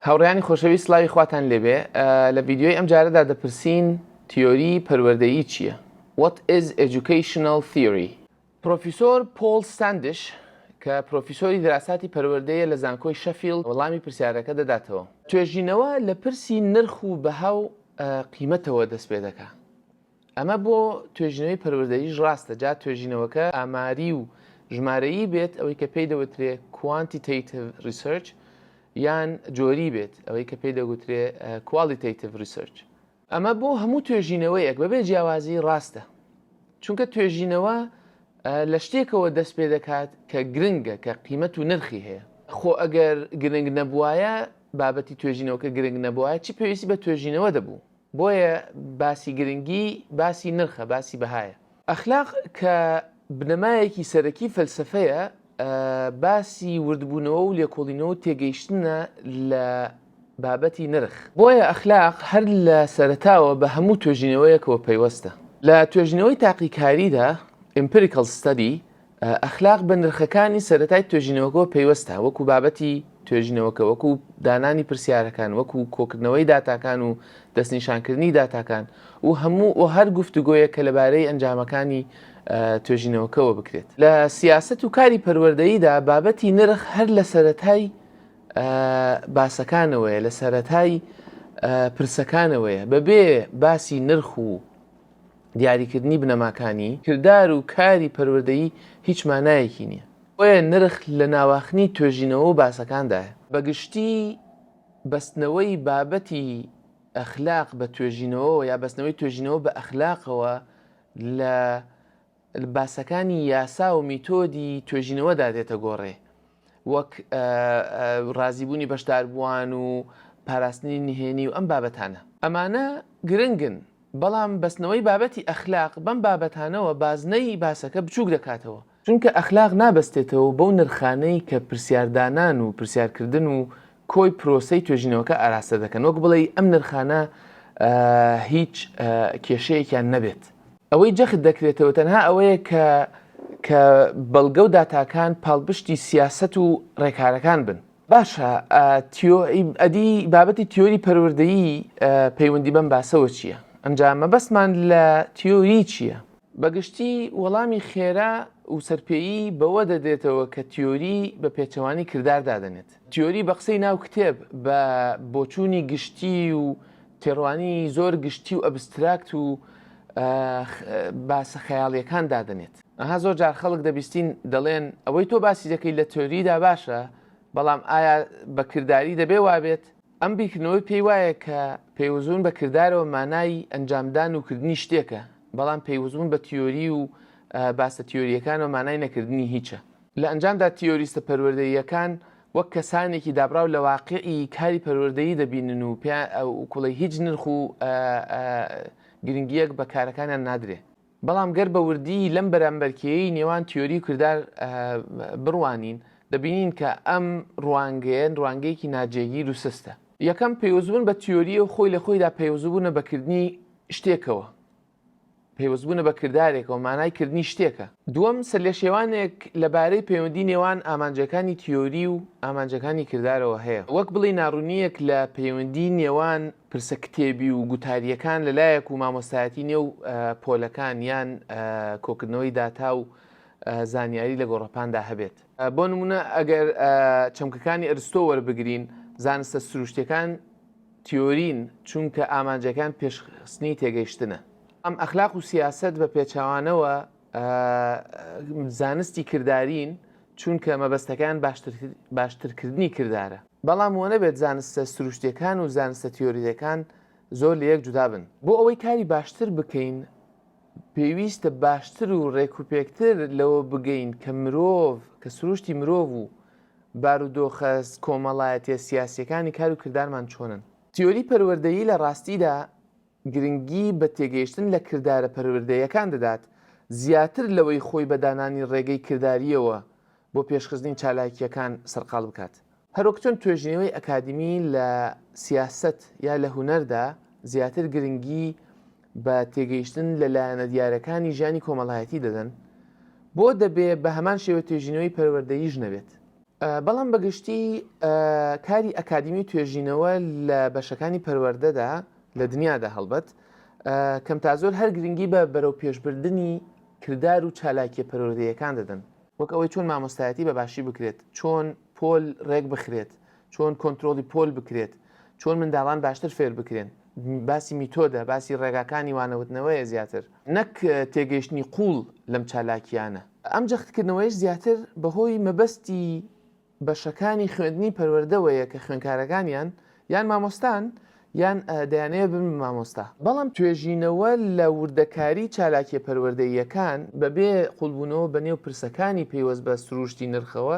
هاوڕێیانی خۆشەویست سلاوی خواتان لێبێ لە ڤیددیوی ئەم جارەدا دەپرسین تیۆری پەروەردەیی چییە؟ What is educational theory؟ پرۆفیسۆر پۆل ستاندش کە پرۆفیسۆری دراساتی پەروەردەیە لە زانکۆی شەفیلد وەڵامی پرسیارەکە دەداتەوە. توێژینەوە لە پرسی نرخ و بەها و قیمەتەوە دەست پێ دەکا. ئەمە بۆ توێژینەوەی پەروەردەییش ڕاستە، جا توێژینەوەکە ئاماری و ژمارەیی بێت، ئەوەی کە پێی دەوترێ Quantitative Research، یان جۆری بێت، ئەوەی کە پێی دەگوترێ Qualitative Research. ئەمە بۆ هەموو توێژینەوەیەک بەبێ جیاوازی ڕاستە، چونکە توێژینەوە لە شتێکەوە دەست پێ دەکات کە گرنگە، کە قیمەت و نرخی هەیە. خۆ ئەگەر گرنگ نەبووایە، بابەتی توێژینەوەکە گرنگ نەبووایە، چ پێویستی بە توێژینەوە دەبوو؟ بۆیە باسی گرنگی باسی نرخە باسی بەهایە. ئەخلاق کە بنەمایەکی سەرەکی فەلسەفەیە باسی وردبوونەوە و لێکۆڵینەوە و تێگەیشتنە لە بابەتی نرخ. بۆیە ئەخلاق هەر لە سەرەتاوە بە هەموو توێژینەوەیەکەوە پەیوەستە. لە توێژینەوەی تاقیکاریدا Empirical Study ئەخلاق بە نرخەکانی سەرەتای توێژینەوەکەوە پەیوەستە، وەکو بابەتی توێژینەوەکە، وەکو دانانی پرسیارەکان، وەکو کۆکردنەوەی داتاکان و دەستنیشانکردنی داتاکان و هەموو و هەر گفتوگۆیەک کە لەبارەی ئەنجامەکانی توێژینەوەکەوە بکرێت. لە سیاسەت و کاری پەروەردەییدا بابەتی نرخ هەر لە سەرەتای باسەکانەوەیە، لە سەرەتای پرسەکانەوەیە، بەبێ باسی نرخ و دیاریکردنی بنەماکانی کردار و کاری پەروەردەیی هیچ مانایەکی نییە، بۆیە نرخ لە ناواخنی توێژینەوە و باسەکاندایە. بە گشتی بەستنەوەی بابەتی ئەخلاق بە توێژینەوەوە یا بەستنەوەی توێژینەوە بە ئەخلاقەوە لە. لە باسەکانی یاسا و میتۆدی توێژینەوەدا دێتە گۆڕێ وەک ڕازیبوونی بەشداربووان و پاراستنی نهێنی و ئەم بابەتانە. ئەمانە گرنگن، بەڵام بەستنەوەی بابەتی ئەخلاق بەم بابەتانەوە بازنەی باسەکە بچووک دەکاتەوە، چونکە ئەخلاق نابەستێتەوە بەو نرخانەی کە پرسیاردانان و پرسیارکردن و کۆی پرۆسەی توێژینەوەکە ئاراستە دەکەن، وەک بڵێی ئەم نرخانە هیچ کێشەیەکیان نەبێت. ئەوەی جەخت دەکرێتەوە تەنها ئەوەیە کە کە بەڵگە و داتاکان پاڵپشتی سیاسەت و ڕێکارەکان بن. باشە ئەدی بابەتی تیۆری پەروەردەیی پەیوەندی بەم باسەوە چییە؟ ئەنجا مەبەستمان لە تیۆری چییە؟ بەگشتی وەڵامی خێرا و سەرپێیی بەوە دەدرێتەوە کە تیۆری بە پێچەوانەی کردار دادەنێت. تیۆری بە قسەی ناو کتێب بە بۆچوونی گشتی و تێڕوانی زۆر گشتی و ئەبستراکت و باسە خەیاڵیەکان دادەنێت ئەها زۆر جار خەڵک دەبیستین دەڵێن ئەوەی تۆ باسی دەکەی لە تۆریدا باشە بەڵام ئایا بە کردداری دەبێ وابێت ئەم بیرکردنەوەی پێی وایە کە پەیوەزون بە کردارەوە مانای ئەنجامدان و کردنی شتێکە بەڵام پەیوەزون بە تیۆری و باسە تیۆریەکانەوە مانای نەکردنی هیچە لە ئەنجامدا تیۆریستە پەروەردەییەکان وەک کەسانێکی دابڕاو لە واقیعی کاری پەروەردەیی دەبینن و پێیان وکوڵێ هیچ نرخ و گرنگییەک بە کارەکانیان نادرێ. بەڵام گەر بە وردی لەم بەرامبەرکێیەی نێوان تیۆری و کردار بڕوانین، دەبینین کە ئەم ڕوانگەیە ڕوانگەیەکی ناجێگیر و سستە. یەکەم، پەیوەستبوون بە تیۆرییە و خۆی لە خۆیدا پەیوەستبوونە بە کردنی شتێکەوە. پەیوەستبوونە بە کردارێکەوە، مانای کردنی شتێکە. دووەم، سەرلێشێوانێک لەبارەی پەیوەندی نێوان ئامانجەکانی تیۆری و ئامانجەکانی کردارەوە هەیە، وەک بڵێی ناڕوونییەک لە پەیوەندی نێوان پرسە کتێبی و گوتارییەکان لەلایەک و مامۆستایەتی نێو پۆلەکان یان کۆکردنەوەی داتا و زانیاری لە گۆڕەپاندا هەبێت. بۆ نموونە ئەگەر چەمکەکانی ئەرستۆ وەربگرین، زانستە سروشتییەکان تیۆرین، چونکە ئامانجەکان پێشخستنی تێگەیشتنە. ئەم ئەخلاق و سیاسەت بە پێچەوانەوە زانستی کردارین، چونکە مەبەستەکان باشترکردنی کردارە. بەڵام وە نەبێت زانستە سروشتیەکان و زانستە تیۆریەکان زۆر لە یەک جودا بن. بۆ ئەوەی کاری باشتر بکەین، پێویستە باشتر و ڕێکوپێکتر لەوە بگەین کە مرۆڤ، کە سروشتی مرۆڤ و بارودۆخە کۆمەڵایەتیە سیاسیەکانی کار و کردارمان چۆنن؟ تیۆری پەروەردەیی لە ڕاستیدا گرنگی بە تێگەیشتن لە کردارە پەروەردەیەکان دەدات زیاتر لەوەی خۆی بە دانانی ڕێگەی کرداریەوە بۆ پێشخستنی چالاکیەکان سەرقاڵ بکات. هەروەک چۆن توێژینەوەی ئەکادیمی لە سیاسەت یا لە هونەردا زیاتر گرنگی بە تێگەیشتن لە لایەنە دیارەکانی ژیانی کۆمەڵایەتی دەدەن، بۆ دەبێ بە هەمان شێوە توێژینەوەی پەروەردەییش نەبێت؟ بەڵام بە گشتی کاری ئەکادیمی توێژینەوە لە بەشەکانی پەروەردەدا لە دنیادا هەڵبەت کەم تا زۆر هەر گرنگی بە بەرەوپێشبردنی کردار و چالاکیە پەروەردەیەکان دەدەن، وەک ئەوەی چۆن مامۆستایەتی بە باشی بکرێت، چۆن پۆل ڕێک بخرێت، چۆن کۆنترۆڵی پۆل بکرێت، چۆن منداڵان باشتر فێر بکرێن، باسی میتۆدە، باسی ڕێگاکانی وانەوتنەوەیە زیاتر، نەک تێگەیشتنی قووڵ لەم چالاکییانە. ئەم جەختکردنەوەیەش زیاتر بەهۆی مەبەستی بەشەکانی خوێندنی پەروەردەوەیە کە خوێندکارەکانیان یان مامۆستان یان دەیانەوێت ببن بە مامۆستا، بەڵام توێژینەوە لە وردەکاریی چالاکییە پەروەردەییەکان بەبێ قووڵبوونەوە بەنێو پرسەکانی پەیوەست بە سرووشتی نرخەوە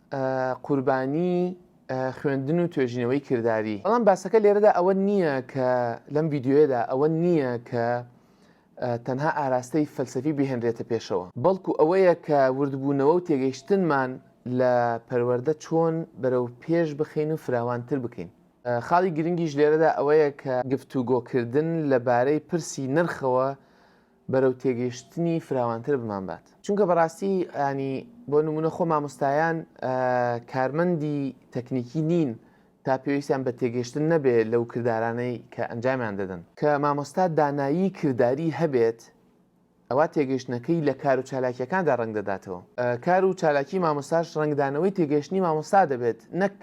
قوربانی خوێندن و توێژینەوەی کرداری بەڵام باسەکە لێرەدا ئەوە نییە کە لەم ڤیددیوەدا ئەوە نییە کە تەنها ئاراستەی فەلسەفی بهێنرێتە پێشەوە بەڵکو ئەوەیە کە وردبوونەوە و تێگەیشتنمان لە پەروەەردە چۆن بەرەو پێش بخین و فراوانتر بکەین خاڵی گرنگیش لێرەدا ئەوەیە کە گفتوگۆکردن لەبارەی پرسی نرخەوە بەرەو تێگەیشتنی فراوانتر بمانبات. چونکە بەڕاستی یانی بۆ نمونە خۆ مامۆستایان کارمەندی تەکنیکی نین تا پێویستیان بە تێگەشتن نەبێ لەو کردارانەی کە ئەنجامیان دەدەن. کە مامۆستا دانایی کرداری هەبێت ئەوا تێگەشتنەکەی لە کار و چالاکیەکاندا ڕەنگ دەداتەوە. کار و چالاکی مامۆستاش ڕەنگدانەوەی تێگەشتنی مامۆستا دەبێت نەک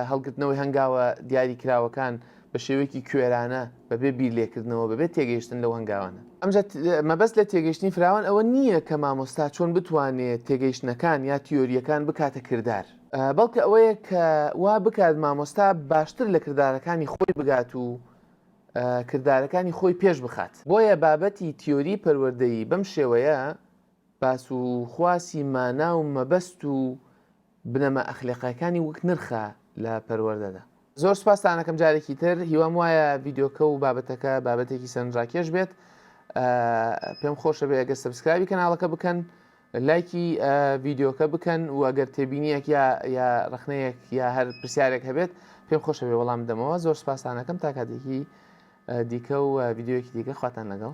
هەڵگرتنەوەی هەنگاوە دیاری کراوەکان بە شێوەیەکی کوێرانە بەبێ بیر لێکردنەوە بەبێت تێگەیشتن لەو هەنگاوانە ئەمجا مەبەست لە تێگەشتنی فراوان ئەوە نییە کە مامۆستا چۆن بتوانێت تێگەیشتنەکان یا تیۆریەکان بکاتە کردار بەڵکە ئەوەیە کە وا بکات مامۆستا باشتر لە کردارەکانی خۆی بگات و کردارەکانی خۆی پێش بخات بۆیە بابەتی تیۆری پەروەردەیی بەم شێوەیە باس و خواسی مانا و مەبەست و بنەما ئەخلەقیەکانی وەک نرخە لە پەروەردەدا. زۆر سوپاستان ئەکەم جارێکی تر هیوام وایە ڤیدیۆکە و بابەتەکە بابەتێکی سەرنجراکێش بێت پێم خۆشە بێ ئەگەر سبسکرابی کەناڵەکە بکەن لایکی ڤیدیۆکە بکەن و ئەگەر تێبینیەک یا یا ڕخنەیەک یا هەر پرسیارێک هەبێت پێم خۆشە بێ وەڵام دەمەوە زۆر سپاسانەکەم تا کاتێکی دیکە و ڤیددیوەکی دیکە خواتان لەگەڵ